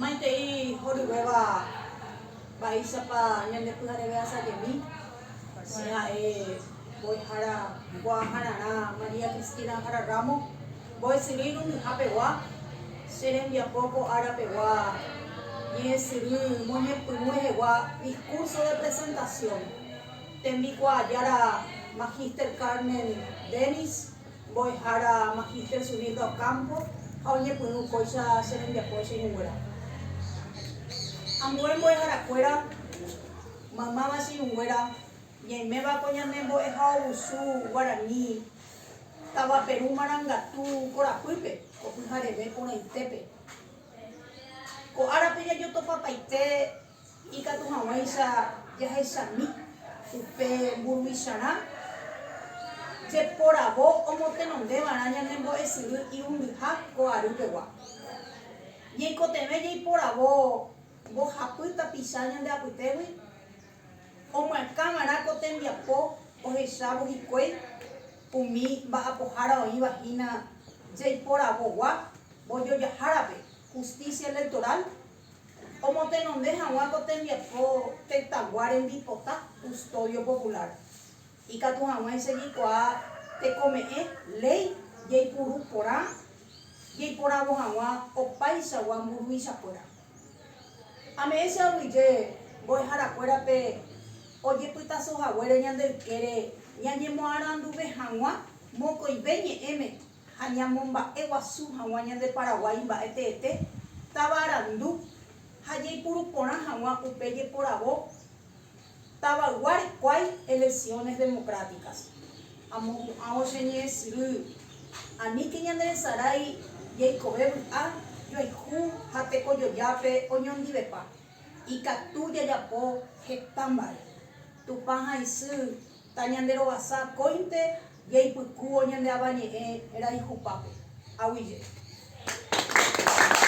Maitei horyvéva mba'éichapa ñandepy'areve asajemi, che ha'e mbo'ehára mbo'ahararã María Cristina Jara Ramos, mbo'esyry irundyha pegua, che rembiapo ko ára pegua ñe'ẽsyry moñepyrũ rehegua discurso de presentación, tembikuaa jára Magister Carmen Dennis, Mbo'ehára Magíster Sunilda Ocampo ha oñepyrũ kóicha che rembiapo che irũnguéra. Ambue mbo'eharakuéra maymáva che irũnguéra ñaiméva ko ñane mbo'ehaovusu guarani Tavaperu Marangatu korapýpe ko pyhareve porãitépe. Ko árape jajotopapaite Ikatu hag̃uáicha jahechami upe mburuvichara jeporavo omotenondeva'erã ñane mbo'esyry irundyha ko ary pegua. Ñaikotevẽ jaiporavo mbohapy tapicha ñande apytégui omyakãva'erã ko tembiapo ohechávo hikuái umi mba'apohára oĩva hína jaiporavogua mbojojahárape Justicia Electoral Omotenonde hag̃ua ko tembiapo tetãgua rembipota custodio popular, ikatu hag̃ua isegikuaa tekome'ẽ léi jeipuru porã jeiporavo hag̃ua opaichagua mburuvichakuéra. Ame'ẽ che aguyje mbo'eharakuérape ojepytaso haguére ñande ykére ñañemoaranduve hag̃ua mokõive ñe'ẽme ha ñamomba'e guasu haguã ñande Paraguái mba'e teete táva arandu ha jaipuru porã haguã upe jeporavo tavaygua rekuái elecciones democráticas. Amohu'ãvo che ñe'ẽ syry, aníke ñanderesarái jaikove vy'a joayhu ha tekojojápe oñondivepa, ikatu jajapo heta mba'e. Tupã ha isy Ta ñande rovasa akóinte jaipykúvo ñande Avañe'ẽ raihupápe. Aguije.